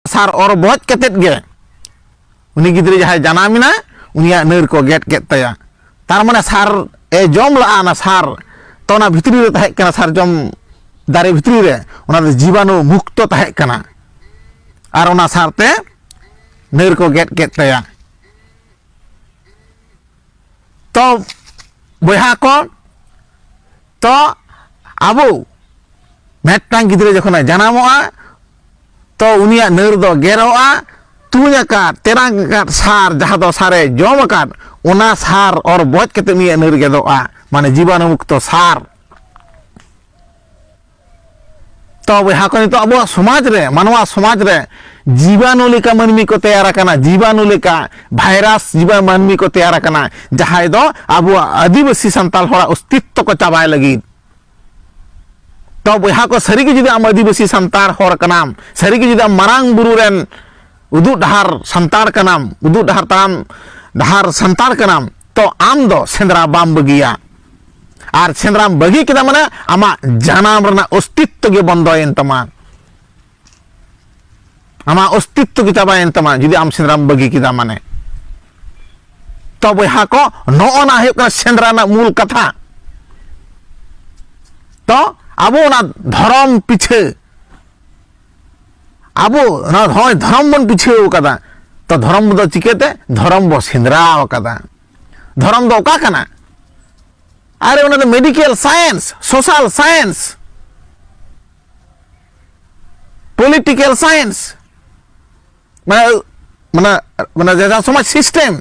ᱥᱟᱨ ᱚᱨ ᱵᱚᱡ ᱠᱟᱛᱮᱫ ᱜᱮ ᱩᱱᱤ ᱜᱤᱫᱽᱨᱟᱹ ᱡᱟᱦᱟᱸᱭ ᱡᱟᱱᱟᱢᱮᱱᱟ ᱩᱱᱤᱭᱟᱜ ᱱᱟᱹᱨ ᱠᱚ ᱜᱮᱫ ᱠᱮᱫ ᱛᱟᱭᱟ ᱛᱟᱨ ᱢᱟᱱᱮ ᱥᱟᱨ ᱮ ᱡᱚᱢ ᱞᱟᱜᱼᱟ ᱚᱱᱟ ᱥᱟᱨ ᱛᱚ ᱚᱱᱟ ᱵᱷᱤᱛᱨᱤ ᱨᱮ ᱛᱟᱦᱮᱸ ᱠᱟᱱᱟ ᱥᱟᱨᱡᱚᱢ ᱫᱟᱨᱮ ᱵᱷᱤᱛᱨᱤ ᱨᱮ ᱚᱱᱟ ᱫᱚ ᱡᱤᱵᱟᱱᱩ ᱢᱩᱠᱛᱚ ᱛᱟᱦᱮᱸ ᱠᱟᱱᱟ ᱟᱨ ᱚᱱᱟ ᱥᱟᱨᱛᱮ ᱱᱟᱹᱨ ᱠᱚ ᱜᱮᱫ ᱠᱮᱫ ᱛᱟᱭᱟ ᱛᱚ ᱵᱚᱭᱦᱟ ᱠᱚ ᱛᱚ ᱟᱵᱚ ᱢᱤᱫᱴᱟᱝ ᱜᱤᱫᱽᱨᱟᱹ ᱡᱚᱠᱷᱚᱱᱮ ᱡᱟᱱᱟᱢᱚᱜᱼᱟ ᱛᱚ ᱩᱱᱤᱭᱟᱜ ᱱᱟᱹᱨ ᱫᱚ ᱜᱮᱨᱚᱜᱼᱟ ᱛᱩᱧ ᱟᱠᱟᱫ ᱛᱮᱨᱟᱝ ᱟᱠᱟᱫ ᱥᱟᱨ ᱡᱟᱦᱟᱸ ᱫᱚ ᱥᱟᱨᱮ ᱡᱚᱢ ᱟᱠᱟᱫ ᱚᱱᱟ ᱥᱟᱨ ᱚᱨ ᱵᱚᱡ ᱠᱟᱛᱮ ᱩᱱᱤᱭᱟᱜ ᱱᱟᱹᱨ ᱜᱮᱫᱚᱜᱼᱟ ᱢᱟᱱᱮ ᱡᱤᱵᱟᱱᱩ ᱢᱩᱠᱛᱚ ᱥᱟᱨ ᱛᱚ ᱵᱚᱭᱦᱟ ᱠᱚ ᱱᱤᱛᱚᱜ ᱟᱵᱚᱣᱟᱜ ᱥᱚᱢᱟᱡᱽ ᱨᱮ ᱢᱟᱱᱣᱟ ᱥᱚᱢᱟᱡᱽ ᱨᱮ ᱡᱤᱵᱟᱱᱩ ᱞᱮᱠᱟ ᱢᱟᱹᱱᱢᱤ ᱠᱚ ᱛᱮᱭᱟᱨ ᱟᱠᱟᱱᱟ ᱡᱤᱵᱟᱱᱩ ᱞᱮᱠᱟ ᱵᱷᱟᱭᱨᱟᱥ ᱡᱤᱵᱟ ᱢᱟᱹᱱᱢᱤ ᱠᱚ ᱛᱮᱭᱟᱨ ᱟᱠᱟᱱᱟ ᱡᱟᱦᱟᱸᱭ ᱫᱚ ᱟᱵᱚᱣᱟᱜ ᱟᱹᱫᱤᱵᱟᱹᱥᱤ ᱥᱟᱱᱛᱟᱲ ᱦᱚᱲᱟᱜ ᱚᱥᱛᱤᱛᱛᱚ ᱠᱚ ᱪᱟᱵᱟᱭ ᱞᱟᱹᱜᱤᱫ ᱛᱚ ᱵᱚᱭᱦᱟ ᱠᱚ ᱥᱟᱹᱨᱤᱜᱮ ᱡᱩᱫᱤ ᱟᱢ ᱟᱹᱫᱤᱵᱟᱹᱥᱤ ᱥᱟᱱᱛᱟᱲ ᱦᱚᱲ ᱠᱟᱱᱟᱢ ᱥᱟᱹᱨᱤᱜᱮ ᱡᱩᱫᱤ ᱟᱢ ᱢᱟᱨᱟᱝ ᱵᱩᱨᱩ ᱨᱮᱱ ᱩᱫᱩᱜ ᱰᱟᱦᱟᱨ ᱥᱟᱱᱛᱟᱲ ᱠᱟᱱᱟᱢ ᱩᱫᱩᱜ ᱰᱟᱦᱟᱨ ᱛᱟᱲᱟᱢ ᱰᱟᱦᱟᱨ ᱥᱟᱱᱛᱟᱲ ᱠᱟᱱᱟᱢ ᱛᱚ ᱟᱢ ᱫᱚ ᱥᱮᱸᱫᱽᱨᱟ ᱵᱟᱢ ᱵᱟᱹᱜᱤᱭᱟ ᱟᱨ ᱥᱮᱸᱫᱽᱨᱟᱢ ᱵᱟᱹᱜᱤ ᱠᱮᱫᱟ ᱢᱟᱱᱮ ᱟᱢᱟᱜ ᱡᱟᱱᱟᱢ ᱨᱮᱱᱟᱜ ᱚᱥᱛᱤᱛᱛᱚ ᱜᱮ ᱵᱚᱱᱫᱚᱭᱮᱱ ᱛᱟᱢᱟ ᱟᱢᱟᱜ ᱚᱥᱛᱤᱛᱛᱚ ᱜᱮ ᱪᱟᱵᱟᱭᱮᱱ ᱛᱟᱢᱟ ᱡᱩᱫᱤ ᱟᱢ ᱥᱮᱸᱫᱽᱨᱟᱢ ᱵᱟᱹᱜᱤ ᱠᱮᱫᱟ ᱢᱟᱱᱮ ᱛᱚ ᱵᱚᱭᱦᱟ ᱠᱚ ᱱᱚᱜᱼᱚ ᱱᱟ ᱦᱩᱭᱩᱜ ᱠᱟᱱᱟ ᱥᱮᱸᱫᱽᱨᱟ ᱨᱮᱱᱟᱜ ᱢᱩᱞ ᱠᱟᱛᱷᱟ ᱛᱚ ᱟᱵᱚ ᱚᱱᱟ ᱫᱷᱚᱨᱚᱢ ᱯᱤᱪᱷᱟᱹ ᱟᱵᱚ ᱱᱚᱜᱼᱚᱭ ᱫᱷᱚᱨᱚᱢ ᱵᱚᱱ ᱯᱤᱪᱷᱟᱹᱣ ᱠᱟᱫᱟ ᱛᱚ ᱫᱷᱚᱨᱚᱢ ᱫᱚ ᱪᱤᱠᱟᱹᱛᱮ ᱫᱷᱚᱨᱚᱢ ᱵᱚ ᱥᱮᱸᱫᱽᱨᱟ ᱠᱟᱫᱟ ᱫᱷᱚᱨᱚᱢ ᱫᱚ ᱚᱠᱟ ᱠᱟᱱᱟ ᱟᱨᱮ ᱚᱱᱟ ᱫᱚ medical science social science political science ᱢᱟᱱᱮ ᱢᱟᱱᱮ ᱢᱟᱱᱮ ᱡᱟᱦᱟᱸ ᱥᱚᱢᱟᱡᱽ ᱥᱤᱥᱴᱮᱢ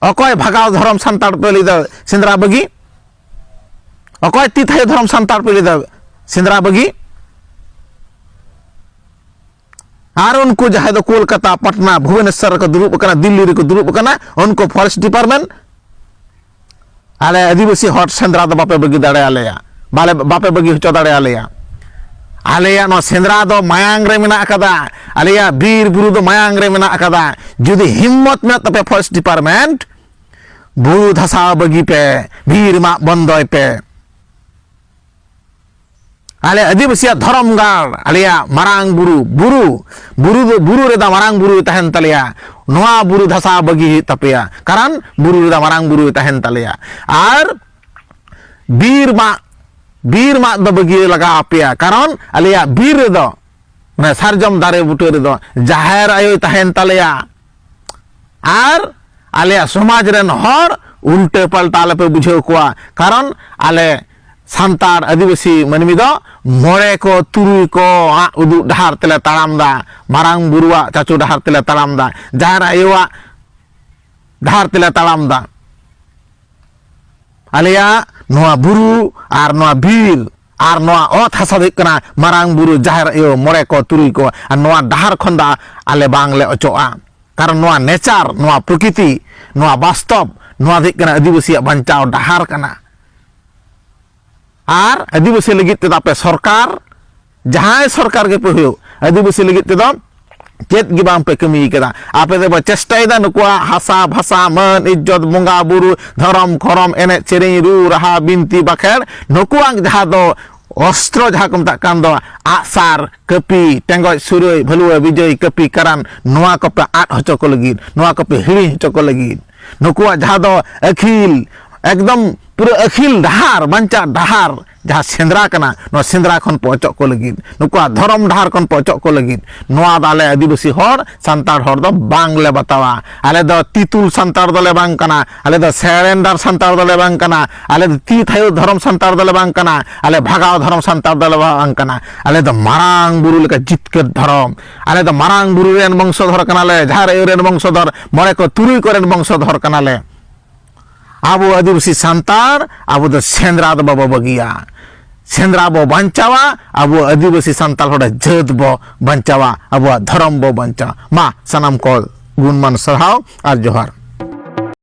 ᱚᱠᱚᱭ ᱵᱷᱟᱜᱟᱣ ᱫᱷᱚᱨᱚᱢ ᱥᱟᱱᱛᱟᱲ ᱯᱮ ᱞᱟᱹᱭ ᱫᱟ ᱥᱮᱸᱫᱽᱨᱟ ᱵᱟᱹᱜᱤ ᱚᱠᱚᱭ ᱛᱤ ᱛᱷᱟᱭᱚ ᱫᱷᱚᱨᱚᱢ ᱥᱟᱱᱛᱟᱲ ᱯᱮ ᱞᱟᱹᱭ ᱫᱟ ᱥᱮᱸᱫᱽᱨᱟ ᱵᱟᱹᱜᱤ ᱟᱨ ᱩᱱᱠᱩ ᱡᱟᱦᱟᱸᱭ ᱫᱚ ᱠᱳᱞᱠᱟᱛᱟ ᱯᱟᱴᱱᱟ ᱵᱷᱩᱵᱚᱱᱮᱥᱥᱚᱨ ᱨᱮᱠᱚ ᱫᱩᱲᱩᱵ ᱟᱠᱟᱱᱟ ᱫᱤᱞᱞᱤ ᱨᱮᱠᱚ ᱫᱩᱲᱩᱵ ᱟᱠᱟᱱᱟ ᱩᱱᱠᱩ ᱯᱷᱚᱨᱮᱥᱴ ᱰᱤᱯᱟᱨᱴᱢᱮᱱᱴ ᱟᱞᱮ ᱟᱹᱫᱤᱵᱟᱹᱥᱤ ᱦᱚᱲ ᱥᱮᱸᱫᱽᱨᱟ ᱫᱚ ᱵᱟᱯᱮ ᱵᱟᱹᱜᱤ ᱫᱟᱲᱮᱭᱟᱞᱮᱭᱟ ᱵᱟᱞᱮ ᱵᱟᱯᱮ ᱵᱟᱹᱜᱤ ᱦᱚᱪᱚ ᱫᱟᱲᱮᱭᱟᱞᱮᱭᱟ ᱟᱞᱮᱭᱟᱜ ᱱᱚᱣᱟ ᱥᱮᱸᱫᱽᱨᱟ ᱫᱚ ᱢᱟᱭᱟᱝ ᱨᱮ ᱢᱮᱱᱟᱜ ᱟᱠᱟᱫᱟ ᱟᱞᱮᱭᱟᱜ ᱵᱤᱨ ᱵᱩᱨᱩ ᱫᱚ ᱢᱟᱭᱟᱝ ᱨᱮ ᱢᱮᱱᱟᱜ ᱟᱠᱟᱫᱟ ᱡᱩᱫᱤ ᱦᱤᱢᱢᱚᱛ ᱢᱮᱱᱟᱜ ᱛᱟᱯᱮ ᱯᱷᱚᱨᱮᱥᱴ ᱰᱤᱯᱟᱨᱴᱢᱮᱱᱴ ᱵᱩᱨᱩ ᱫᱷᱟᱥᱟᱣ ᱵᱟᱹᱜᱤ ᱯᱮ ᱵᱤᱨ ᱢᱟᱜ ᱵᱚᱱᱫᱚᱭ ᱯᱮ ᱟᱞᱮ ᱟᱹᱫᱤᱵᱟᱹᱥᱤᱭᱟᱜ ᱫᱷᱚᱨᱚᱢ ᱜᱟᱲ ᱟᱞᱮᱭᱟᱜ ᱢᱟᱨᱟᱝ ᱵᱩᱨᱩ ᱵᱩᱨᱩ ᱵᱩᱨᱩ ᱫᱚ ᱵᱩᱨᱩ ᱨᱮᱫᱚ ᱢᱟᱨᱟᱝ ᱵᱩᱨᱩ ᱛᱟᱦᱮᱱ ᱛᱟᱞᱮᱭᱟ ᱱᱚᱣᱟ ᱵᱩᱨᱩ ᱫᱷᱟᱥᱟ ᱵᱟᱹᱜᱤ ᱦᱩᱭᱩᱜ ᱛᱟᱯᱮᱭᱟ ᱠᱟᱨᱚᱱ ᱵᱩᱨᱩ ᱨᱮᱫᱚ ᱢᱟᱨᱟᱝ ᱵᱩᱨᱩ ᱛᱟᱦᱮᱱ ᱛᱟᱞᱮᱭᱟ ᱟᱨ ᱵᱤᱨ ᱢᱟᱜ ᱵᱤᱨ ᱢᱟᱜ ᱫᱚ ᱵᱟᱹᱜᱤ ᱞᱟᱜᱟᱣ ᱟᱯᱮᱭᱟ ᱠᱟᱨᱚᱱ ᱟᱞᱮᱭᱟᱜ ᱵᱤᱨ ᱨᱮᱫᱚ ᱢᱟᱱᱮ ᱥᱟᱨᱡᱚᱢ ᱫᱟᱨᱮ ᱵᱩᱴᱟᱹ ᱨᱮᱫᱚ ᱡᱟᱦᱮᱨ ᱟᱭᱳᱭ ᱛᱟᱦᱮᱱ ᱛᱟᱞᱮᱭᱟ ᱟᱨ ᱟᱞᱮᱭᱟᱜ ᱥᱚᱢᱟᱡᱽ ᱨᱮᱱ ᱦᱚᱲ ᱩᱞᱴᱟᱹ ᱯᱟᱞᱴᱟ ᱟᱞᱮᱯᱮ ᱵᱩᱡᱷᱟᱹᱣ ᱠᱚᱣᱟ ᱠᱟᱨᱚᱱ ᱟᱞᱮ ᱥᱟᱱᱛᱟᱲ ᱟᱹᱫᱤᱵᱟᱹᱥᱤ ᱢᱟᱹᱱᱢᱤ ᱫᱚ ᱢᱚᱬᱮ ᱠᱚ ᱛᱩᱨᱩᱭ ᱠᱚ ᱩᱫᱩᱜ ᱰᱟᱦᱟᱨ ᱛᱮᱞᱮ ᱛᱟᱲᱟᱢ ᱫᱟ ᱢᱟᱨᱟᱝ ᱵᱩᱨᱩᱣᱟᱜ ᱪᱟᱪᱳ ᱰᱟᱦᱟᱨ ᱛᱮᱞᱮ ᱛᱟᱲᱟᱢ ᱫᱟ ᱡᱟᱦᱮᱨ ᱟᱭᱳᱣᱟᱜ ᱰᱟᱦᱟᱨ ᱛᱮᱞᱮ ᱛᱟᱲᱟᱢ ᱫᱟ ᱟᱞᱮᱭᱟᱜ ᱱᱚᱣᱟ ᱵᱩᱨᱩ ᱟᱨ ᱱᱚᱣᱟ ᱵᱤᱨ ᱟᱨ ᱱᱚᱣᱟ ᱚᱛ ᱦᱟᱥᱟ ᱫᱚ ᱦᱩᱭᱩᱜ ᱠᱟᱱᱟ ᱢᱟᱨᱟᱝ ᱵᱩᱨᱩ ᱡᱟᱦᱮᱨ ᱟᱭᱳ ᱢᱚᱬᱮ ᱠᱚ ᱛᱩᱨᱩᱭ ᱠᱚ ᱟᱨ ᱱᱚᱣᱟ ᱰᱟᱦᱟᱨ ᱠᱷᱚᱱ ᱫᱚ ᱟᱞᱮ ᱵᱟᱝᱞᱮ ᱚᱪᱚᱜᱼᱟ ᱠᱟᱨᱚᱱ ᱱᱚᱣᱟ ᱱᱮᱪᱟᱨ ᱱᱚᱣᱟ ᱯᱨᱚᱠᱤᱛᱤ ᱱᱚᱣᱟ ᱵᱟᱥᱛᱚᱵ ᱱᱚᱣᱟ ᱫᱚ ᱦᱩᱭᱩᱜ ᱠᱟᱱᱟ ᱟᱹᱫᱤᱵᱟᱹᱥᱤᱭᱟᱜ ᱵᱟᱧᱪᱟᱣ ᱰᱟᱦᱟᱨ ᱠᱟᱱᱟ ᱟᱨ ᱟᱹᱫᱤᱵᱟᱹᱥᱤ ᱞᱟᱹᱜᱤᱫ ᱛᱮᱫᱚ ᱟᱯᱮ ᱥᱚᱨᱠᱟᱨ ᱡᱟᱦᱟᱸᱭ ᱥᱚᱨᱠᱟᱨ ᱜᱮᱯᱮ ᱦᱩᱭᱩᱜ ᱟᱹᱫᱤᱵᱟᱹᱥᱤ ᱞᱟᱹᱜᱤᱫ ᱛᱮᱫᱚ ᱪᱮᱫ ᱜᱮ ᱵᱟᱝ ᱯᱮ ᱠᱟᱹᱢᱤ ᱠᱟᱫᱟ ᱟᱯᱮ ᱫᱚ ᱪᱮᱥᱴᱟᱭᱮᱫᱟ ᱱᱩᱠᱩᱣᱟᱜ ᱦᱟᱥᱟ ᱵᱷᱟᱥᱟ ᱢᱟᱹᱱ ᱤᱡᱽᱡᱚᱛ ᱵᱚᱸᱜᱟ ᱵᱩᱨᱩ ᱫᱷᱚᱨᱚᱢ ᱠᱷᱚᱨᱚᱢ ᱮᱱᱮᱡ ᱥᱮᱨᱮᱧ ᱨᱩ ᱨᱟᱦᱟ ᱵᱤᱱᱛᱤ ᱵᱟᱠᱷᱮᱲ ᱱᱩᱠᱩᱣᱟᱜ ᱡᱟᱦᱟᱸ ᱫᱚ ᱚᱥᱛᱨᱚ ᱡᱟᱦᱟᱸ ᱠᱚ ᱢᱮᱛᱟᱜ ᱠᱟᱱ ᱫᱚ ᱟᱜᱼᱥᱟᱨ ᱠᱟᱹᱯᱤ ᱴᱮᱸᱜᱚᱡ ᱥᱩᱨᱟᱹᱭ ᱵᱷᱟᱹᱞᱩᱣᱟᱹ ᱵᱤᱡᱚᱭ ᱠᱟᱹᱯᱤ ᱠᱟᱨᱟᱱ ᱱᱚᱣᱟ ᱠᱚᱯᱮ ᱟᱫ ᱦᱚᱪᱚ ᱠᱚ ᱞᱟᱹᱜᱤᱫ ᱱᱚᱣᱟ ᱠᱚᱯᱮ ᱦᱤᱲᱤᱧ ᱦᱚᱪᱚ ᱠᱚ ᱞᱟᱹᱜᱤᱫ ᱱᱩᱠᱩᱣᱟᱜ ᱡᱟᱦᱟᱸ ᱫᱚ ᱟᱹᱠᱷᱤᱞ ᱮᱠᱫᱚᱢ ᱯᱩᱨᱟᱹ ᱟᱹᱠᱷᱤᱞ ᱰᱟᱦᱟᱨ ᱵᱟᱧᱪᱟᱜ ᱰᱟᱦᱟᱨ ᱡᱟᱦᱟᱸ ᱥᱮᱸᱫᱽᱨᱟ ᱠᱟᱱᱟ ᱱᱚᱣᱟ ᱥᱮᱸᱫᱽᱨᱟ ᱠᱷᱚᱱ ᱯᱮ ᱚᱪᱚᱜ ᱠᱚ ᱞᱟᱹᱜᱤᱫ ᱱᱩᱠᱩᱣᱟᱜ ᱫᱷᱚᱨᱚᱢ ᱰᱟᱦᱟᱨ ᱠᱷᱚᱱ ᱯᱮ ᱚᱪᱚᱜ ᱠᱚ ᱞᱟᱹᱜᱤᱫ ᱱᱚᱣᱟ ᱫᱚ ᱟᱞᱮ ᱟᱹᱫᱤᱵᱟᱹᱥᱤ ᱦᱚᱲ ᱥᱟᱱᱛᱟᱲ ᱦᱚᱲ ᱫᱚ ᱵᱟᱝᱞᱮ ᱵᱟᱛᱟᱣᱟ ᱟᱞᱮ ᱫᱚ ᱛᱤᱛᱩᱞ ᱥᱟᱱᱛᱟᱲ ᱫᱚᱞᱮ ᱵᱟᱝ ᱠᱟᱱᱟ ᱟᱞᱮ ᱫᱚ ᱥᱮᱨᱮᱱᱰᱟᱨ ᱥᱟᱱᱛᱟᱲ ᱫᱚᱞᱮ ᱵᱟᱝ ᱠᱟᱱᱟ ᱟᱞᱮ ᱫᱚ ᱛᱤ ᱛᱷᱟᱭᱚ ᱫᱷᱚᱨᱚᱢ ᱥᱟᱱᱛᱟᱲ ᱫᱚᱞᱮ ᱵᱟᱝ ᱠᱟᱱᱟ ᱟᱞᱮ ᱵᱷᱟᱜᱟᱣ ᱫᱷᱚᱨᱚᱢ ᱥᱟᱱᱛᱟᱲ ᱫᱚᱞᱮ ᱵᱟᱝ ᱠᱟᱱᱟ ᱟᱞᱮ ᱫᱚ ᱢᱟᱨᱟᱝ ᱵᱩᱨᱩ ᱞᱮᱠᱟ ᱡᱤᱛᱠᱟᱹᱨ ᱫᱷᱚᱨᱚᱢ ᱟᱞᱮ ᱫᱚ ᱢᱟᱨᱟᱝ ᱵᱩᱨᱩ ᱨᱮᱱ ᱵᱚᱝᱥᱚᱫᱷᱚᱨ ᱠᱟᱱᱟᱞᱮ ᱡᱟᱦᱮᱨ ᱟᱭᱳ ᱨᱮᱱ ᱵᱚᱝᱥᱚᱫᱷᱚᱨ ᱢᱚᱬᱮ ᱠᱚ ᱛᱩᱨᱩᱭ ᱠᱚᱨᱮᱱ ᱵᱚᱝᱥᱚᱫᱷᱚᱨ ᱠᱟᱱᱟᱞᱮ ᱟᱵᱚ ᱟᱹᱫᱤᱵᱟᱹᱥᱤ ᱥᱟᱱᱛᱟᱲ ᱟᱵᱚ ᱫᱚ ᱥᱮᱸᱫᱽᱨᱟ ᱫᱚ ᱵᱟᱵᱚ ᱵᱟᱹᱜᱤᱭᱟ ᱥᱮᱸᱫᱽᱨᱟ ᱵᱚ ᱵᱟᱧᱪᱟᱣᱟ ᱟᱵᱚ ᱟᱹᱫᱤᱵᱟᱹᱥᱤ ᱥᱟᱱᱛᱟᱲ ᱦᱚᱲ ᱡᱟᱹᱛ ᱵᱚ ᱵᱟᱧᱪᱟᱣᱟ ᱟᱵᱚᱣᱟᱜ ᱫᱷᱚᱨᱚᱢ ᱵᱚ ᱵᱟᱧᱪᱟᱣᱟ ᱢᱟ ᱥᱟᱱᱟᱢ ᱠᱚ ᱜᱩᱱᱢᱟᱱ ᱥᱟᱨᱦᱟᱣ ᱟᱨ ᱡᱚᱦᱟᱨ